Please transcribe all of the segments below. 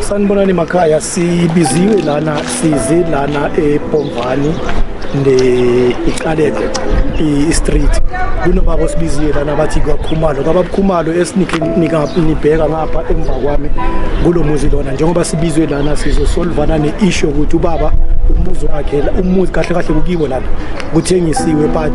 Sanibonani makhaya, sibiziwe lana size lana eBomvani ne iqaleke i-street kunobaba osibiziwe lana bathi kwakhumalo kwababukhumalo esinikabheka ngapha emva kwami kulo muzi lona njengoba sibizwe lana sizosolvana ne-ishu yokuthi ubaba umuzi wakhe umuzi kahle kahle kukiwo lana kuthengisiwe but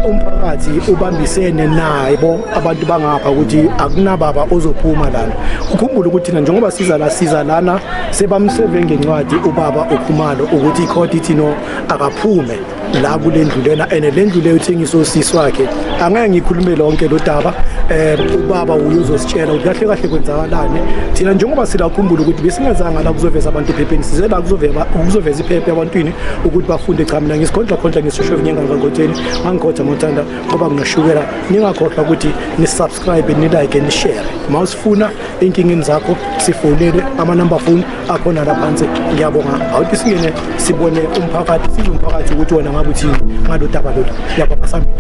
umphakathi ubambisene naye bo abantu bangapha ukuthi akunababa ozophuma lana ukhumbule ukuthi thina njengoba siza la siza lana sebamseve ngencwadi ubaba ukhumalo ukuthi ikhodi ithi no akaphume la kule ndlu lena ene le ndlu leyo uthengisa usisi wakhe angeke ngikhulume lonke lo daba um ubaba uye uzositshela ukuthi kahle kahle kwenzakalani thina njengoba silakhumbula ukuthi besingezanga la kuzoveza abantu ephepheni size la kuzoveza iphephe ebantwini ukuthi bafunde cha mina ngisikhondla khondla ngisisho evinyengangangotsheni angikhotha mothanda ngoba ngingashukela ningakhohlwa ukuthi nisubscribe nilike nishare uma usifuna ey'nkingeni zakho sifonele amanumber phone akhona la phansi ngiyabonga awuthi singene sibone umphakathi size umphakathi ukuthi wona ngabe uthini ngalo daba lolu ngiyabonga sambili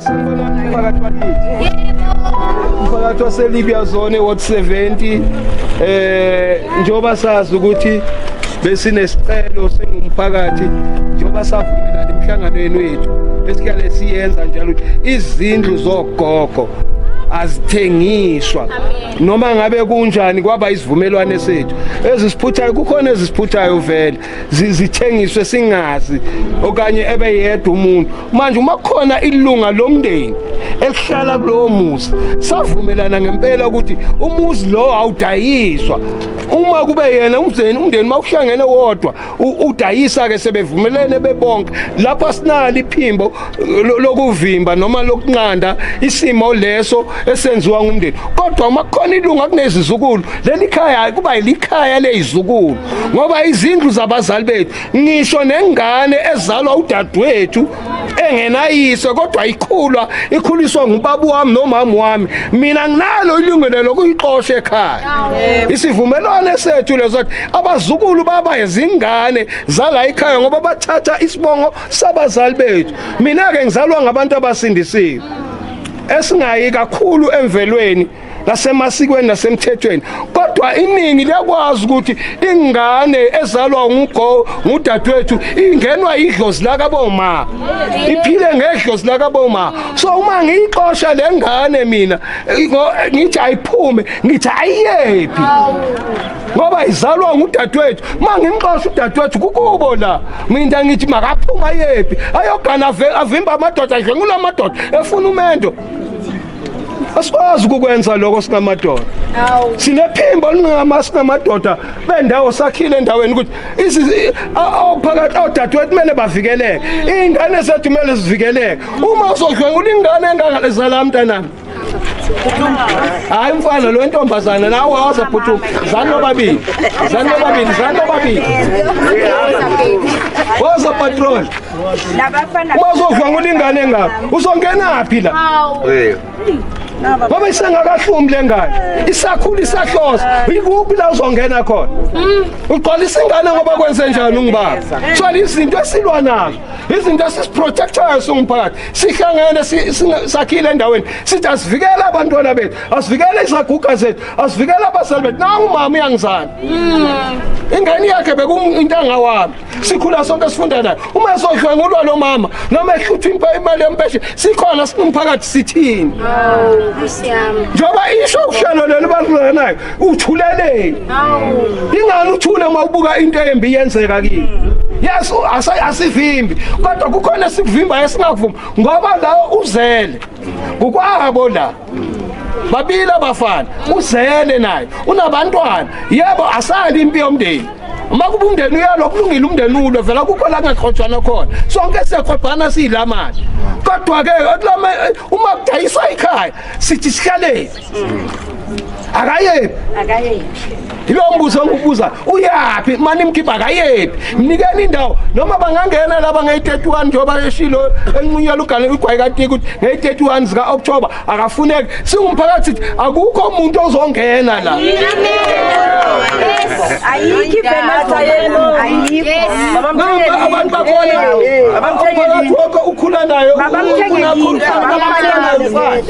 Umphakathi wakithi. Umphakathi waseLibya zone ward 70 eh njoba sazi ukuthi besinesicelo singumphakathi njoba savumela emhlanganweni wethu esikhale siyenza njalo izindlu zogogo azithengiswa noma ngabe kunjani kwaba isivumelwane sethu ezisiphuthayo kukhona ezisiphuthayo vele zithengiswe singazi okanye ebeyedwa umuntu manje uma khona ilunga lomndeni elihlala kulowo muzi savumelana ngempela ukuthi umuzi lowo awudayiswa uma kube yena umndeni umndeni uma uhlangene wodwa udayisa-ke sebevumelene bebonke lapho asinalo iphimbo lokuvimba noma lokunqanda isimo leso esenziwa ngumndeni kodwa uma kukhona ilunga kunezizukulu leli khaya kuba yilikhaya lezizukulu ngoba izindlu zabazali bethu ngisho nengane ezalwa udadewethu engenayise kodwa ikhulwa ikhuliswa ngubaba wami nomama wami mina nginalo ilungelo lokuyixosha ekhaya isivumelwano sethu leso abazukulu baba izingane zala ikhaya ngoba bathatha isibongo sabazali bethu mina ke ngizalwa ngabantu abasindisiwe esingayi kakhulu emvelweni nasemasikweni nasemthethweni kodwa iningi liyakwazi ukuthi ingane ezalwa ngugo ngudadewethu ingenwa idlozi lakaboma iphile ngedlozi lakaboma so uma ngiyixosha le ngane mina ngithi ayiphume ngithi ayiyephi ngoba izalwa ngudadewethu uma ngimxosha udadewethu kukubo la mina ngithi makaphuma yephi ayogana avimba amadoda adle ngula madoda efuna umendo asikwazi ukukwenza lokho singamadoda sinephimbo lingama singamadoda bendawo sakhile endaweni ukuthi ophakathi odadewethu kumele bavikeleke iy'ngane zethu kumele zivikeleke uma uzodlwengula ingane engangale zala mntanami hayi mfana lo ntombazana nawe waza phuthu zani nobabili zani nobabili zani nobabili waza patrol uma uzovanga ulingane ngapha uzongena phi la ngoba isengakahlumi le ngane isakhula isahlosa ikuphi la uzongena khona ugqwalisa ingane ngoba kwenze njani ungibaba thwala izinto esilwa nazo izinto esisiprotectayo singumphakathi sihlangene sakhile endaweni sithi asivikele abantwana bethu asivikele izaguga zethu asivikele abazali bethu nangu mama uyangizana hmm. ingane yakhe bekuintanga wami sikhula sonke sifunda nayo uma esodlwengulwa lo mama noma ehlutha impa imali yempeshe sikhona singumphakathi sithini njengoba isho uhlelo leli balulanayo uthuleleni ingani uthule uma ubuka into embi yenzeka kini yes asivimbi kodwa kukhona sikuvimba esingakuvumi ngoba la uzele ngokwabo la babili abafana uzele naye unabantwana yebo asali impi yomndeni uma kuba umndeni uyalwa kulungile umndeni ulwe vela kukho la kungaxhotshwana khona sonke siyakhobhana siyila mali kodwa-ke uma kudayiswa ikhaya sithi sihlaleni akayephi akayephi yilo mbuzo engibuza uyaphi mani mkhipha akayephi mnikeni indawo noma bangangena laba ngeyi-31 njengoba eshilo enqunyela ugane igwayi katiki ukuthi ngeyi-31 zika-oktoba akafuneki singumphakathi sithi akukho umuntu ozongena la abantu bakhona umphakathi wonke ukhula nayo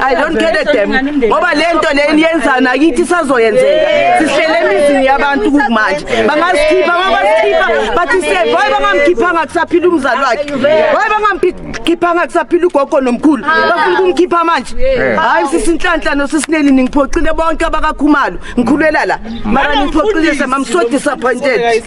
I don't get it them ngoba lento leni yenza nakithi sazoyenzeka sihlele emizini yabantu kumanje bangasikhipha mabasikhipha bathi se boy bangamkhiphanga kusaphila umzali wakhe boy bangamkhiphanga kusaphila ugogo nomkhulu bafuna ukumkhipha manje hayi sisinhlanhla nosisineli ningiphoxile bonke abakakhumalo ngikhulwela la mara ningiphoxile sama I'm so disappointed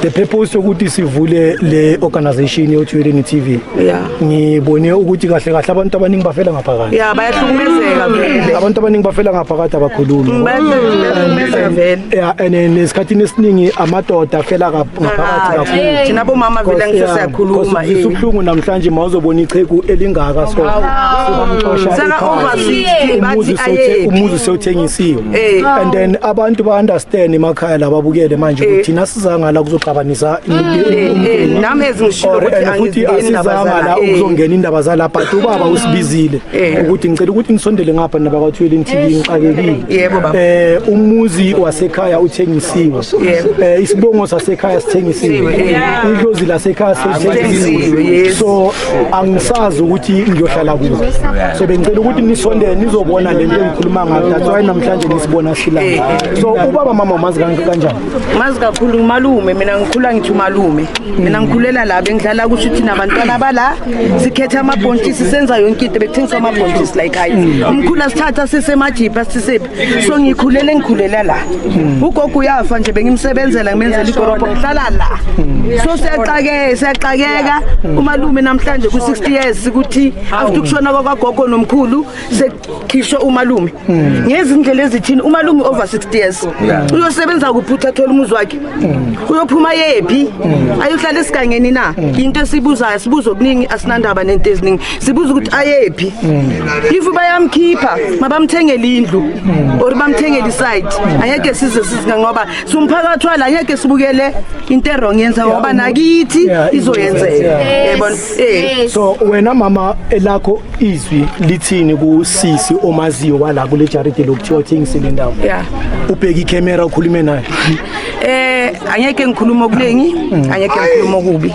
the purpose sokuthi sivule le organization yoThuleni TV yeah ngibone ukuthi kahle kahle abantu abaningi bafela ngaphakathi yeah bayahlukumezeka vele abantu abaningi bafela ngaphakathi abakhulumi mm, bayahlukumezeka vele yeah and nesikhathini esiningi amadoda afela ngaphakathi kakhulu thina bomama vele ngisho siyakhuluma eh. isubhlungu namhlanje mawuzobona icheku elingaka so sibamxosha sana over 60 bathi aye umuzi sewuthengisiwe Eh. and then abantu ba understand emakhaya lababukele manje ukuthi thina sizanga la kuzoxabanisa imindeni nami ezingishilo Or, ukuthi and futhi angizingeni indaba asizanga la zala, eh. ukuzongena indaba zala but ubaba usibizile Eh. ukuthi ngicela ukuthi nisondele ngapha naba kathwele ngithile ngixakekile Yebo, baba. eh umuzi wasekhaya uthengisiwe Yebo. eh isibongo sasekhaya sithengisiwe Sithengiwe, eh. idlozi lasekhaya Sithengiwe, sithengisiwe yes. so angisazi ukuthi ngiyohlala kuzo so bengicela ukuthi nisondele nizobona le nto engikhuluma ngayo that's why namhlanje nisibona sihlala eh, eh. so ubaba mama umazi kanjani mazi kakhulu ngumalume mina ngikhula ngithi umalume mina ngikhulela la bengihlala kusho ukuthi nabantwana bala sikhetha amabhontshisi senza yonke into bekuthengisa amabhontshisi la ekhaya umkhulu asithatha sisemajipha sisephi so ngikhulele ngikhulela la hmm. ugogo uyafa nje bengimsebenzela ngimenzela igorobho ngihlala la hmm. so siyaxakeka siyaxakeka hmm. umalume namhlanje ku-60 years ukuthi after ukushona kwakwagogo nomkhulu sekukhishwe umalume ngezindlela ezithini umalume over 60 years uyosebenza kuphi uthi athole umuzi wakhe uyophuma yephi ayohlala esigangeni na yinto esibuzayo sibuza okuningi asinandaba nento eziningi sibuza ukuthi ayephi if bayamkhipha mabamthengele indlu or bamthengele isite angeke size sizika ngoba sumphakathi wala angeke sibukele into erong yenza ngoba nakithi izoyenzeka yabona eh so wena mama elakho izwi lithini ku sisi omaziyo wala kule jaride lokuthiwa uthengise le ndawo yeah ubheka ikhamera ukhulume naye eh angeke ngikhuluma okuningi angeke ngikhuluma okubi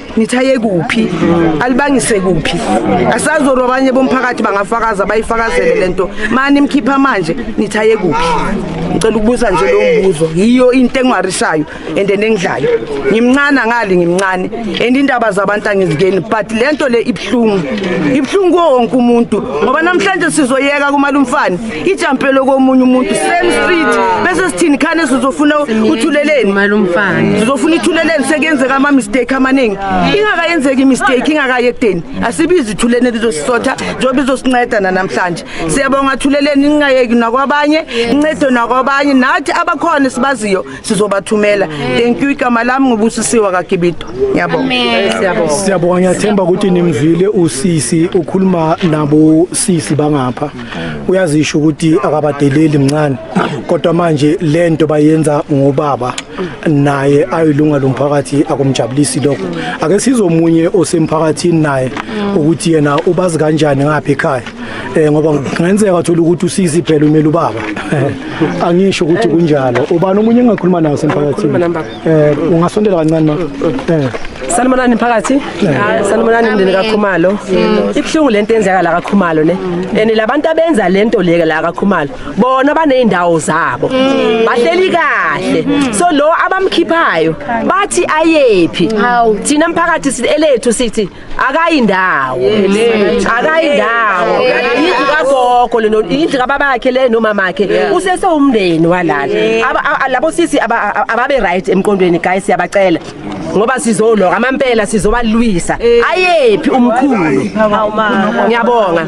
nithi aye kuphi alibangise kuphi asazolwa abanye bomphakathi bangafakaza bayifakazele le nto mani mkhipha manje nithi aye kuphi ngicela ukubuza nje lowo mbuzo yiyo into engiwarishayo and engidlayo ngimncane angali ngimncane and indaba zabantu angizikeni but le nto le ibuhlungu ibuhlungu kuwo wonke umuntu ngoba namhlanje sizoyeka kumalumfane ijampelo komunye umuntu same street bese sithini khane sizofuna uthuleleni sizofuna ithuleleni sekuyenzeka ama-mistake amaningi ingakayenzeki imistake ingakayi ekudeni asibizi ithuleni lizosisotha njengoba izosinceda nanamhlanje siyabonga thuleleni ningayeki nakwabanye incede nakwabanye nathi abakhona sibaziyo sizobathumela thank you igama lami ngubusisiwa kakibito ngiyabonga siyabonga ngiyathemba ukuthi nimzwile usisi ukhuluma nabo sisi bangapha uyazisho ukuthi akabadeleli mncane kodwa manje lento bayenza ngobaba naye ayilunga lomphakathi akumjabulisi lokho ake sizomunye osemphakathini naye ukuthi yena ubazi kanjani ngapha ekhaya eh ngoba ngenzeka uthola ukuthi usizi phela umele ubaba eh, angisho ukuthi kunjalo ubani omunye engakhuluma nawo semphakathini eh ungasondela kancane ma eh Sanibonani mphakathi. Ah, sanibonani mndeni kaKhumalo. Ibuhlungu lento enzeka la kaKhumalo ne. And labantu abenza lento leke la kaKhumalo. Bona baneindawo zabo. Mm. Bahleli kahle. Mm. So lo abamkhiphayo bathi ayephi. Thina mphakathi silethu sithi akayi ndawo akayi ndawo yindlu kagogo leno yindlu kababakhe le nomamakhe usese umndeni walala Aba- a- labo sisi aba- a- ababe right emqondweni guys siyabacela ngoba sizoloka amampela sizobalwisa ayephi umkhulu ngiyabonga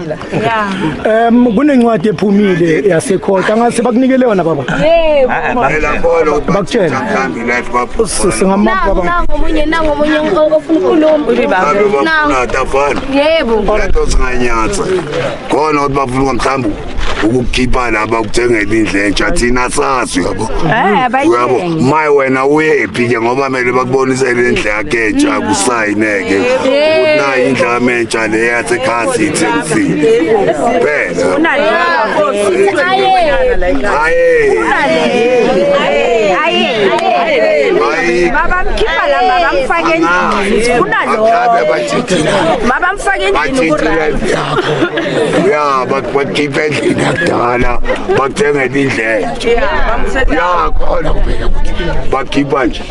Em kunencwadi ephumile yasekhotha ngase bakunikele yona baba. Phela bolo Bakutshela. Life ka phupha. Usisi ngamapha Nangu baba. nangu omunye nangu omunye o- ofuna ukukhuluma. Ngabe Nangu. bafuna atafana. Yebo. Lento singanyatsa. Khona ukuthi bafuna mhlawumbe ukukhipha laba kuthengela indle entsha thina sazi yabo. Eh Uyabo? abayithengi. Maye wena uyephi ke ngoba mele bakubonise le ndle yakhe. geja kusayineke ukuthi nayi indlama entsha le yasekhaya sithi ekusini phela babamkhipha la babamfake endlini kunalobabamfake endlini uyaba bakhipha endlini yakudala bakuthengela indlela ya khona kuphela ukuthi bakhipha nje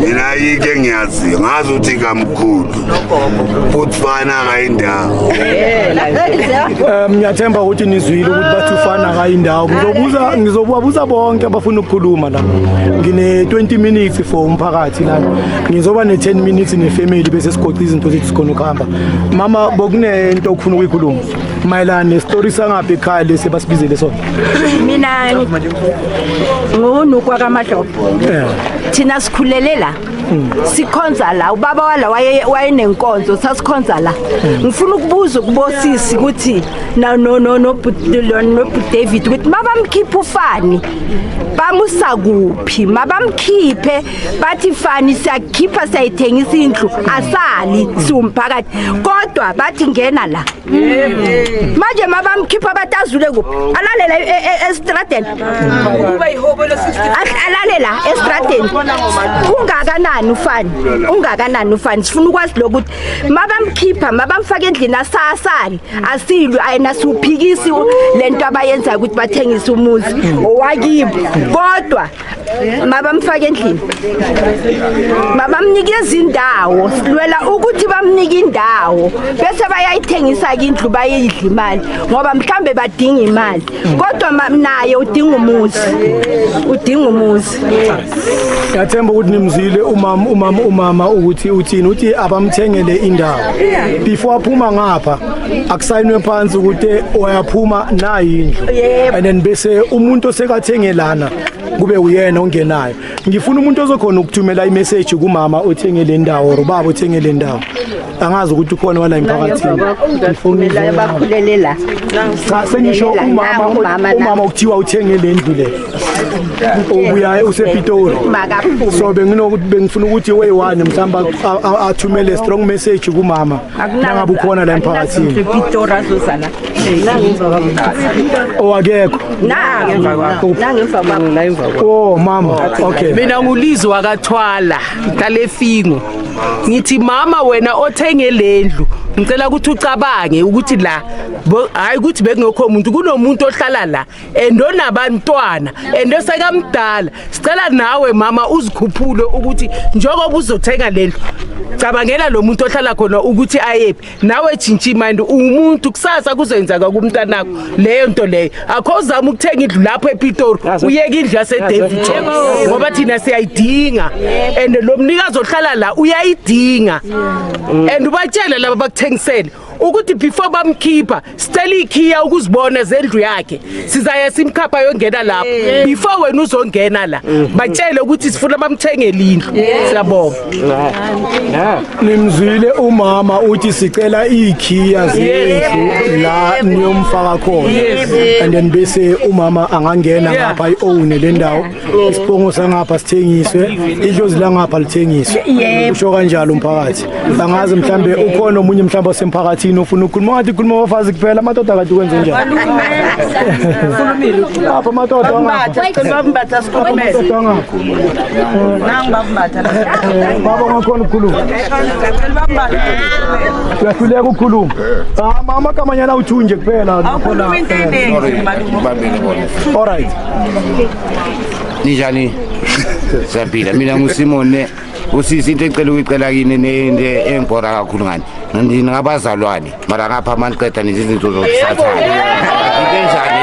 mina yike engiyaziyo ngazi ukuthi kamkhulu futhi fana akayindawo um ngiyathemba ukuthi nizwile ukuthi bathi ufana akayindawo ngizobuza ngizobubabuza bonke abafuna ukukhuluma la ngine-20 minutes for umphakathi lana ngizoba ne-10 minutes nefamily bese sigoqa izinto zethu sikhona ukuhamba mama bokunento okufuna ukuyikhuluma mayelana nesitori sangaphi ekhaya lesi basibizele sona mina ngunukwa kamadlobho thina sikhulele la hmm. sikhonza la ubaba wala wayenenkonzo sasikhonza la hmm. ngifuna ukubuza kubosisi ukuthi nobudavid ukuthi mabamkhiphe ufani bamusa kuphi mabamkhiphe bathi fani siyakhipha siyayithengisa indlu asali siwumphakathi kodwa bathi ngena la manje mabamkhipha bathi azule kuphi alalele e- e- e- estradeni Ahl- alale la estradeni ungakanani ufani ungakanani ufani sifuna ukwazi lokuthi mabamkhipha mabamfaka endlini asasali asilwe ayena siwuphikisi u- lento abayenzayo ukuthi bathengise umuzi owakibo kodwa mabamfake endlini mabamnikeza indawo silwela ukuthi bamnike indawo bese bayayithengisa-ke indlu bayidla imali ngoba mhlawumbe badinga imali kodwa naye udinga umuzi udinga umuzi ngiyathemba ukuthi nimzile umama umama umama ukuthi uthini uthi abamthengele indawo before aphuma ngapha akusayinwe phansi ukuthi oyaphuma nayi indlu and then bese umuntu osekathenge lana kube uyena ongenayo ngifuna umuntu ozokhona ukuthumela imessage kumama othenge le ndawo or ubaba othenge le ndawo angazi ukuthi ukhona wala emphakathini bakhulele la cha sengisho umama umama okuthiwa uthenge le ndlu le obuya usepitori so benginokuthi bengifuna ukuthi way one mhlawumbe athumele strong message kumama nangabe ukhona la emphakathini owakekho oh mama okay mina ngulizwe wakathwala ngihlale efingo ngithi mama wena othenge lendlu ngicela ukuthi ucabange ukuthi la hayi ukuthi bekungekho muntu kunomuntu ohlala la and onabantwana and osekamdala sicela nawe mama uzikhuphule ukuthi njengoba uzothenga lendlu cabangela lo muntu ohlala khona ukuthi ayephi nawe jintsha imandi uwumuntu kusasa kuzoyenzaka kumntanakho leyo nto leyo akho uzama ukuthenga indlu lapho epitori uyeke indlu yasedevitron ngoba thina siyayidinga and lo mnikazi ohlala la uyayidinga and ubatshele laba bakuthengisele ukuthi before bamkhipha sicela ikhiya ukuzibona zendlu yakhe sizaye simkhapha yongena lapho before wena uzongena la batshele ukuthi sifuna bamthengele indlu siyabonga nimzwile umama uthi sicela ikhiya zendlu la niyomfaka khona and then bese umama angangena ngapha i-own le ndawo isibongo sangapha sithengiswe idlozi langapha lithengiswe usho kanjalo umphakathi angazi mhlambe ukhona omunye mhlambe osemphakathini ofuna ukukhuluma wathi khuluma abafazi kuphela amadoda kade kwenze njani apha amadoda baba ngakhona ukukhuluma uyahluleka ukukhuluma mama kamanyana uthunje kuphela all right ninjani siyaphila mina ngusimone usisi into ecela ukuyicela kini nento engibhora kakhulu ngani ndingabazalwane mara ngapha amaniqeda nezizinto zokusathana into enjani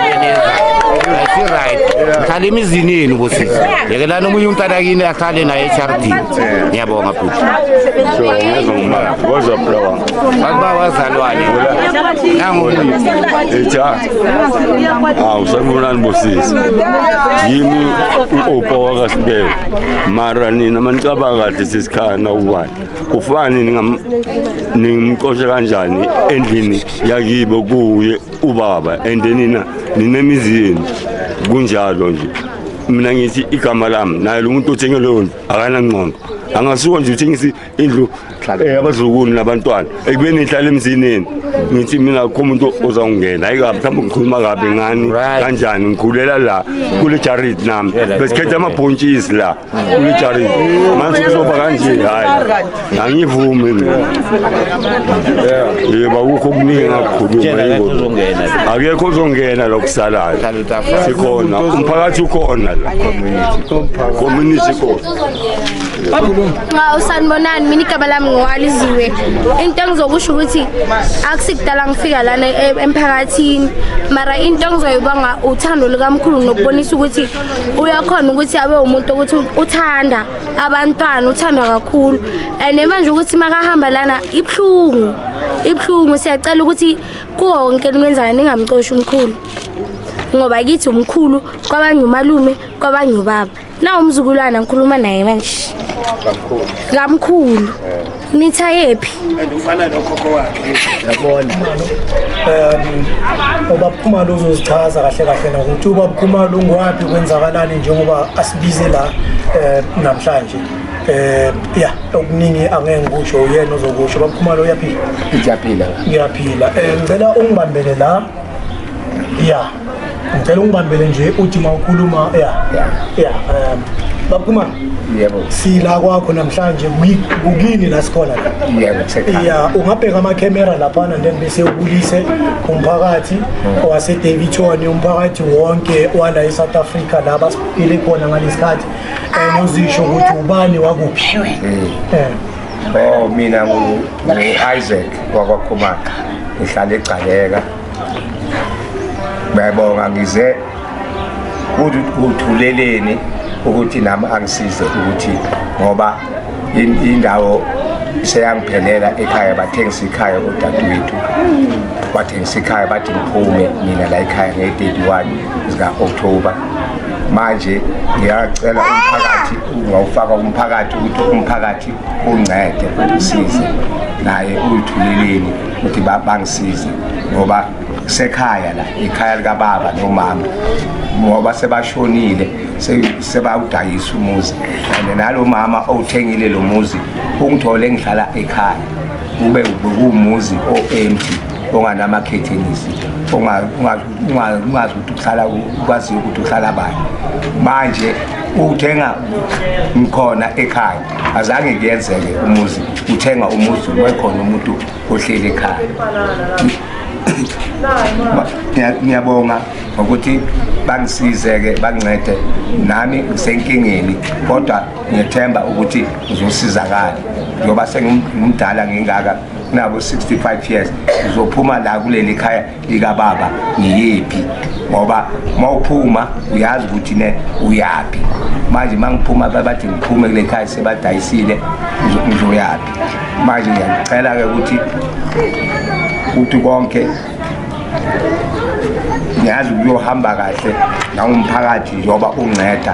right ngihlala emizini yenu bosisi yekelani omunye umntana kini ahlale naye echarity ngiyabonga bhuti kodwa bulawa bakuba wazalwane nangomunye awu ah, sanibonani bosisi yimi u-opa wakasibeka mara nina manicabanga kahle sesikhaya nawubani kufani ningimcoshe kanjani endlini yakibo kuye ubaba and nina ninemizi yenu kunjalo nje mina ngithi igama lami naye lo muntu othenge leyo nto akanangqondo angasuka nje uthengise indlu eh, abazukulu nabantwana ekubeni ngihlala emzineni ngithi mina kukho umuntu ozawungena hayi kabi mhlawumbe ngikhuluma kabi ngani kanjani ngikhulela la kule jarid nami besikhetha amabhontshisi la kule jarid manje kuzoba kanje hayi angivumi mina yebo akukho okuningi engakukhuluma yingozi akekho ozongena lo kusalayo sikhona umphakathi ukhona la community community khona Nga usanibonani mina igaba lami ngiwaliziwe. Into engizokusho ukuthi akusikudala ngifika lana e- emphakathini. Mara into engizoyibonga uthando lukamkhulu nokubonisa ukuthi uyakhona ukuthi abe umuntu ukuthi uthanda abantwana uthanda kakhulu. And manje ukuthi makahamba lana ibhlungu. Ibhlungu siyacela ukuthi konke nimenzana ningamcoshi umkhulu. Ngoba kithi umkhulu kwabanye umalume kwabanye ubaba. Na umzukulwana ngikhuluma naye manje. Kamkhulu. Kamkhulu. Nitha yephi? Andifana nokhokho wakhe. Yabona. Um ubaphuma lozozichaza kahle kahle na ukuthi ubaphuma lungwapi kwenzakalani njengoba asibize la eh, namhlanje. Eh yeah okuningi angeke ngikusho uyena ozokusho baphuma lo uyaphila. Ngiyaphila. Ngiyaphila. Eh ngicela ungibambele la ya ngicela ungibambele nje uthi uma ukhuluma ya ya um babukhumana yebo sila kwakho namhlanje kukini la sikhona la ya ungabheka amakhemera laphana then bese ubulise umphakathi hmm. wasedaviton umphakathi wonke wala e-south africa la basiphile khona ngalesikhathi um uzisho ukuthi ubani wakuphi hmm. eh. Oh mina ngu Isaac wakwakhumana ngihlala egcaleka bayabonga ngize kuthuleleni ukuthi nami angisize ukuthi ngoba indawo seyangiphelela ekhaya bathengisa ikhaya odadewethu bathengisa ikhaya bathi ngiphume mina la ekhaya nge-31 zika-october manje ngiyacela umphakathi ungawufaka umphakathi ukuthi umphakathi uncede usize naye uyithuleleni ukuthi bangisize ngoba sekhaya la ikhaya likababa nomama ngoba sebashonile sebawudayisa umuzi and nalo mama owuthengile lo muzi ungithole ngihlala ekhaya kube kuwumuzi o-empty onganamakhethenizi ungazi ukuthi uhlala ukwaziyo ukuthi uhlala bani manje uthenga ngikhona ekhaya azange kuyenzeke umuzi uthenga umuzi wekhona umuntu ohleli ekhaya ngiyabonga ngokuthi bangisize-ke bangincede nami ngisenkingeni kodwa ngiyethemba ukuthi ngizosizakala njengoba sengimdala ngingaka nabo 65 years ngizophuma la kuleli khaya likababa ngiyephi ngoba uma uphuma uyazi ukuthi ne uyaphi manje uma ngiphuma babathi ngiphume kule khaya sebadayisile ngizoyaphi manje ngiyacela-ke ukuthi ukuthi konke ngiyazi ukuyohamba kahle nangumphakathi njengoba unceda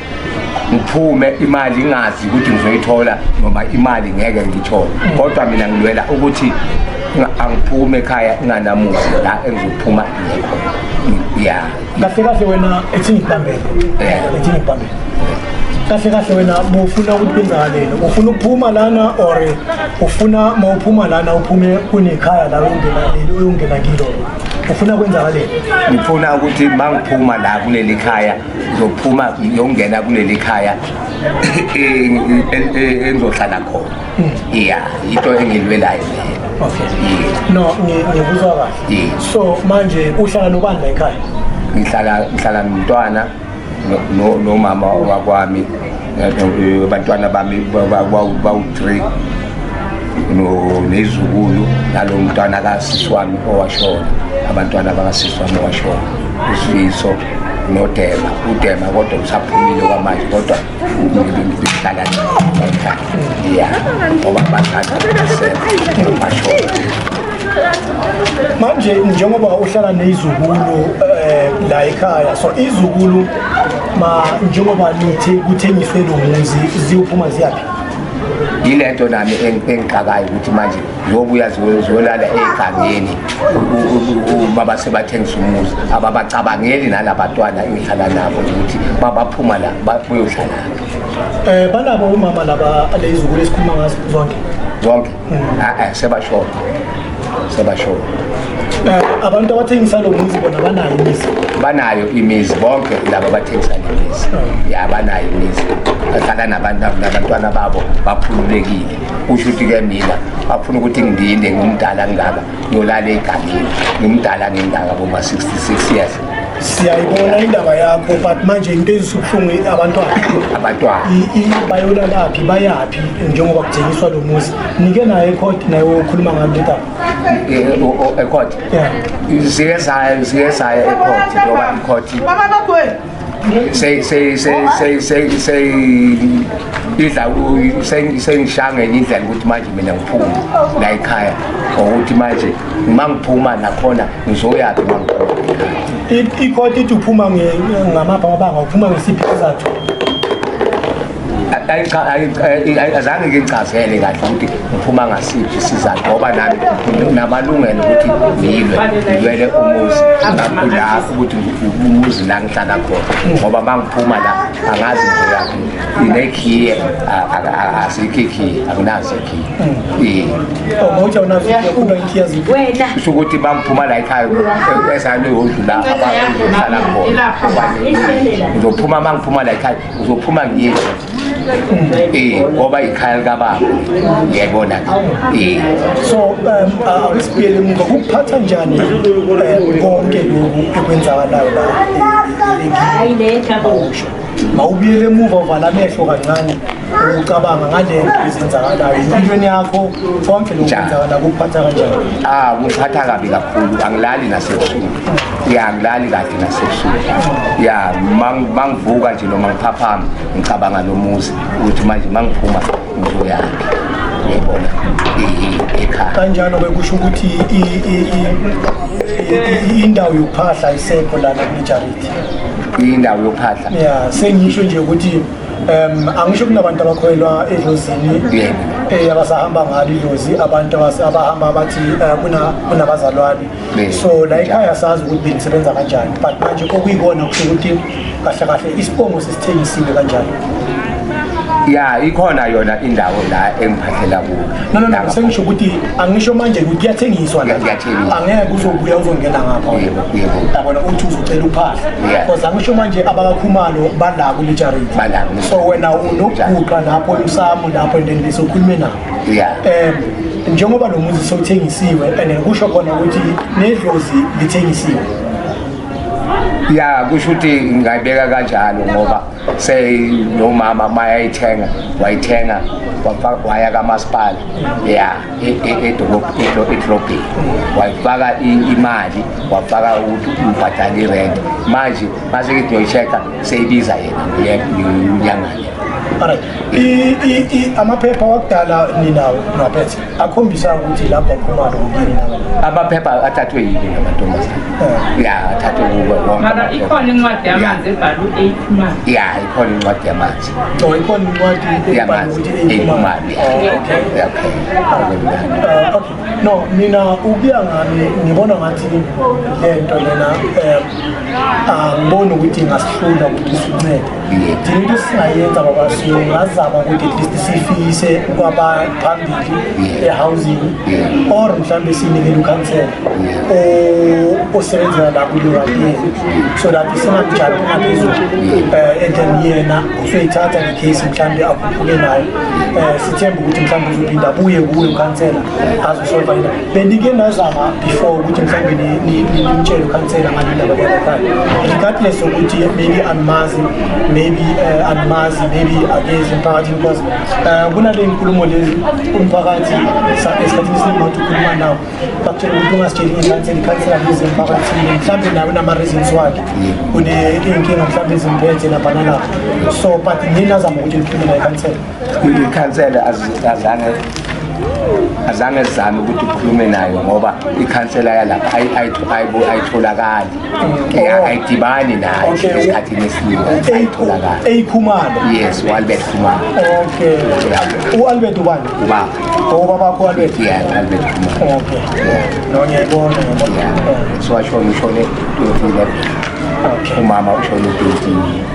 ngiphume imali ingazi ukuthi ngizoyithola noma imali ngeke ngiyithole kodwa mina ngilwela ukuthi angiphume ekhaya nganamuzi la engizophuma ngekho ya kahle kahle wena ethini ngibambele ethini ngibambele kahle kahle wena bufuna ukuthi benzakaleni ufuna ukuphuma lana or ufuna uma uphuma lana uphume kunekhaya la uyongena leli uyongena kilo ufuna kwenzakaleni ngifuna ukuthi mangiphuma la kuleli khaya ngizophuma ngiyongena kuleli khaya engizohlala khona iya into engilwelayo no ngikuzwa kahle so manje uhlala nobani la ekhaya ngihlala ngihlala nomntwana nomama wakwami abantwana bami bawu-three nezukulu nalo mntwana kasisi wami owashona abantwana bakasisi wami owashona usifiso nodema udema kodwa usaphumile kwamanje kodwa ngihlala ya ngoba bathatha bashoa manje njengoba uhlala neyizukulu um eh, la ekhaya so izukulu ma njengoba nithi kuthengiswe lo muzi ziyophuma ziyaphi yile nto nami engixakayo ukuthi manje ngoba uyazi uzolala egangeni uma basebathengisa umuzi ababacabangeli nalabantwana engihlala nabo ukuthi babaphuma la bayohlala um eh, banabo umama laba leyizukulu esikhuluma ngazo zonke zonke mm. a-e ah, ah, sebashona sebashona eh, abantu abathengisa lo muzi bona banayo imizi banayo imizi bonke laba bathengisa le mizi mm. ya banayo imizi bahlala nabantwana babo bakhululekile kusho ukuthi ke mina afuna ukuthi ngilinde ngumdala ngingaka ngiyolala egamile ngimdala ngingaka boma 66 years siyayibona indaba yakho but manje into ezisubuhlungu abantwana abantwana bayolalaphi bayaphi njengoba kuthengiswa lo muzi nike naye ekhot naye okhuluma ngalo leta ekhot eh, eh, eh, zike zayo zike zayo ekhot ngoba ikhot idla sengishanga enye indlela ukuthi manje mina ngiphume la ekhaya ngokuthi manje uma ngiphuma nakhona ngizoyaphi uma ngiphuma ikhoti ithi uphuma ngamabha wabanga uphuma ngesiphi isizathu azange ngichazele kahle ukuthi ngiphuma ngasiphi isizathu ngoba nami namalungelo ukuthi ngilwe ngilwele umuzi ngakho ukuthi umuzi la ngihlala khona ngoba uma ngiphuma la angazi ngiyaphi inekhiye asikho ikhiye akunazo ikhiye kusho ukuthi uma ngiphuma la ekhaya esane yodlula abahlala khona ngizophuma uma ngiphuma la ekhaya uzophuma ngiyezwa eh ngoba ikhaya likababa ngiyayibona eh so um awusibiyele muka kuphatha njani eh, konke lokhu ekwenzakalayo la hayi le jabo mawubuyele emuva uvala amehlo kancane ucabanga ngale nto ezenzakalayo empilweni yakho konke lokhu kwenzakala kuphatha kanjani ah kuphatha kabi kakhulu angilali nasebusuku ya ngilali kahle nasebusuku ya mangivuka nje noma ngiphaphama ngicabanga lo muzi ukuthi manje mangiphuma ngizoyaphi ngiyibona ekhaya kanjalo-ke kusho ukuthi indawo yokuphahla ayisekho lana kule jariti indawo yokuphahla ya sengisho nje ukuthi um angisho kunabantu abakholelwa edlozini um abasahamba ngalo idlozi abantu abahamba bathi eh, kunabazalwane so la ikhaya sazi ukuthi benisebenza kanjani but manje okuyikona kusho ukuthi kahle kahle isibongo sesithengisile kanjani ya ikhona yona indawo la engiphathela kuyo no no no sengisho ukuthi angisho manje ukuthi kuyathengiswa la kuyathengiswa angeke uzobuya uzongena ngapha yebo yebo yabona uthi uzocela uphahla because angisho manje abakakhumalo bala kule charity bala so wena unokuguqa lapho usamu lapho and then besokhuluma nabo yeah um njengoba lo muzi sewuthengisiwe and kusho khona ukuthi nedlozi lithengisiwe ya kusho ukuthi ngingayibeka kanjalo ngoba seyinomama mayayithenga wayithenga waya kamasipala ya e, e, e, edrobheni wayifaka imali wafaka ukuthi ubhadala irent manje mase ngithi uyoyi-check-a seyibiza yena unyangane amaphepha wakudala ninawo ngaphethe akhombisa ukuthi lapho aphuma lokuyini amaphepha athathwe yini ngamantombazane eh. ya athathwe kubo wonke ikhona incwadi yamanzi ebhalwe eyiphumani ya ikhona incwadi yamanzi so oh, ikhona incwadi yamanzi eyiphumani oh, okay uh, okay no mina ukuya ngami ngibona ngathi lento lena um angiboni ukuthi ingasihlula ukuthi sincede into esingayenza ngoba singazama ukuthi at least siyifise kwabaphambili ehousing or mhlawumbe siyinikele ukhansela osebenzela la kulewayeni so that singamjali ungaphezulu um eh, and then yena usoyithatha le case mhlawumbe akhuphuke nayo um sithembe ukuthi mhlawumbe uzophinda abuye kuwe ukhansela azosolva bendike nazama before ukuthi mhlawumbe nimtshele ukhansela ngalendaba kwenzekhayo regardless ukuthi maybe andimazi maybe uh, andimazi maybe akezi emphakathini because uh, kunale nkulumo lezi umphakathi esikhathini esiningi wathi ukhuluma nawo bakutshela ukuthi ungasitsheli ikhansela ikhansela lezi emphakathini mhlawumbe nawe unama-reasons wakhe une-inkinga mhlawumbe ezimphethe lapha nalapha so but ninazama ukuthi nikhulume nayo ikhansela ikhansela azange azange zizame ukuthi ukhulume nayo ngoba ikhansela yalapha ayitholakali oh. ayidibani nayo esikhathini esiningi ayitholakali eyikhumalo yes u-albert khumalo okay u-albert ubani ubaba obaba oh, albert yeah albert khumalo okay nonyebona so ashona ushone 2011 umama ushone 20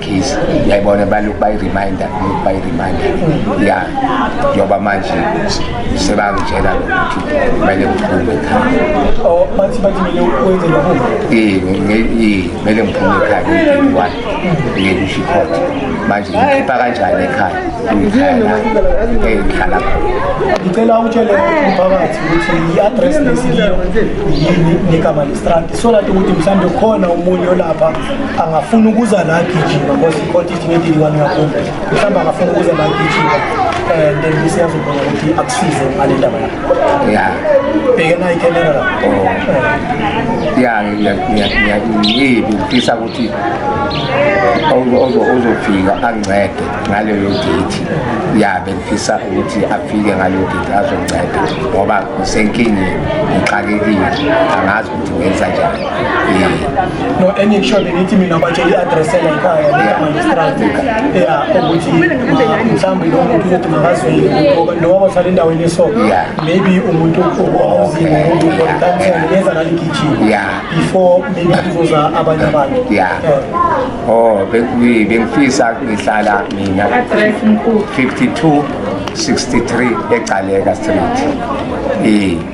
case yayibona balokhu bayireminder lokhu bayireminder ya njengoba manje sebangitshela ukuthi kumele ngiphume ekhaya kumele ngiphume ekhaya ngiyiwani ngeke usho ikhotha manje ngikhipha kanjani ekhaya ngikhaya la engihlala ngicela utshele umphakathi ukuthi i-address lesiyiyo yini negama lestrati so that ukuthi mhlawumbe khona omunye olapha angafuni ukuza la gijima because ikoti ithi ngedili kwani ngakumbi mhlawumbe angafuni ukuza la gijima and then siyazobona ukuthi akusize ngale ndaba yakho ya bhekena ikemera la oh. ya ngiyibi ngifisa ukuthi ozofika ancede ngaleyo date ya bengifisa ukuthi afike ngaleyo date azonceda ngoba ngisenkingeni ngixakekile angazi ukuthi ngenza njani no engikusho bengithi mina batshela i-adressela ekhaya likamangistrate ya ukuthi mhlawumbe lo muntu ukuthi makazweli noma uhlala endaweni eso maybe umuntu ozile umuntu ukansela yenza naligijima before maybe kuzoza abanye abantu eh. oh bengifisa ngihlala mina 52 63 egcaleka street eh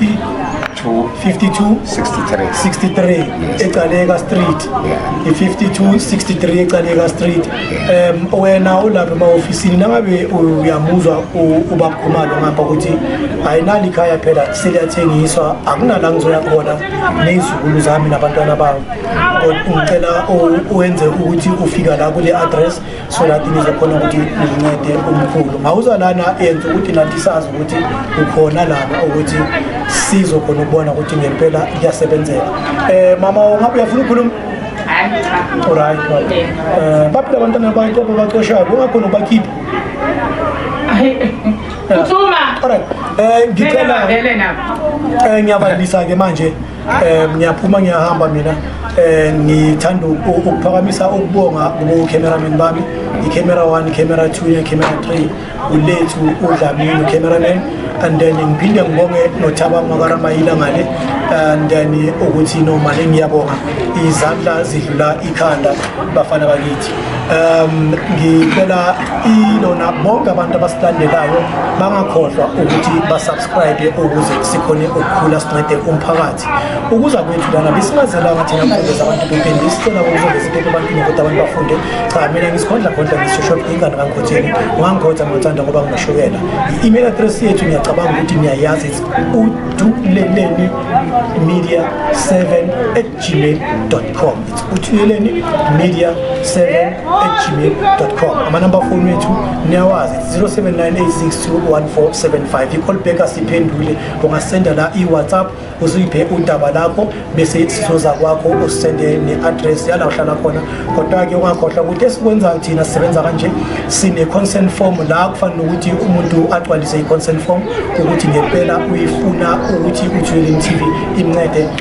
52 63 63 eCaleka Street i52 63 eCaleka Street em wena ulapha emahofisini nangabe uyamuzwa ubakhumalo ngapha ukuthi ayinali ikhaya phela seliyathengiswa akunala ngizoya khona nezikulu zami nabantwana bami ngicela uwenze ukuthi ufika la kule address so that nizokhona ukuthi nincede umkhulu ngawuza lana yenza ukuthi nathi sazi ukuthi ukhona lana ukuthi sizokhona ukubona ukuthi ngempela kuyasebenzeka um mama ungabe uyafuna ukukhuluma right um baphila abantwana bakho babacoshayo ungakhona ubakhiphe uthuma right um ngicela um ngiyabalisa-ke manje Eh ngiyaphuma ngiyahamba mina eh ngithanda ukuphakamisa ukubonga kubo cameraman bami i camera 1 camera 2 ne camera 3 ulethu udlamini cameraman and then ngiphinde ngibonge nothaba makaRamayila ngale and then ukuthi nomali ngiyabonga izandla zidlula ikhanda bafana bakithi um ngicela ilona bonke abantu abasilandelayo bangakhohlwa ukuthi basubscribe ukuze sikhone ukukhula sincede umphakathi ukuza kwethu lana besingazelanga thina mfundeza abantu bephinde isicela ukuzoveza into ebantwini ukuthi abantu bafunde cha mina ngisikhondla khondla ngisishop ingane kangikhotheni ungangikhotha ngithanda ngoba nginoshukela i-email address yethu ngiyacabanga ukuthi niyayazi uduleleni media 7 gmail.com it's uthuyeleni media 7 at gmail.com amanamba foni wethu niyawazi 0798621475 i-call back asiphendule ungasenda la i-whatsapp uzuyiphe udaba lakho bese sizoza kwakho usende ne-address yala uhlala khona kodwa-ke ungakhohlwa ukuthi esikwenzayo thina sisebenza kanje sine-consent form la kufanele ukuthi umuntu agcwalise i-consent form ukuthi ngempela uyifuna ukuthi uthuyeleni tv imncede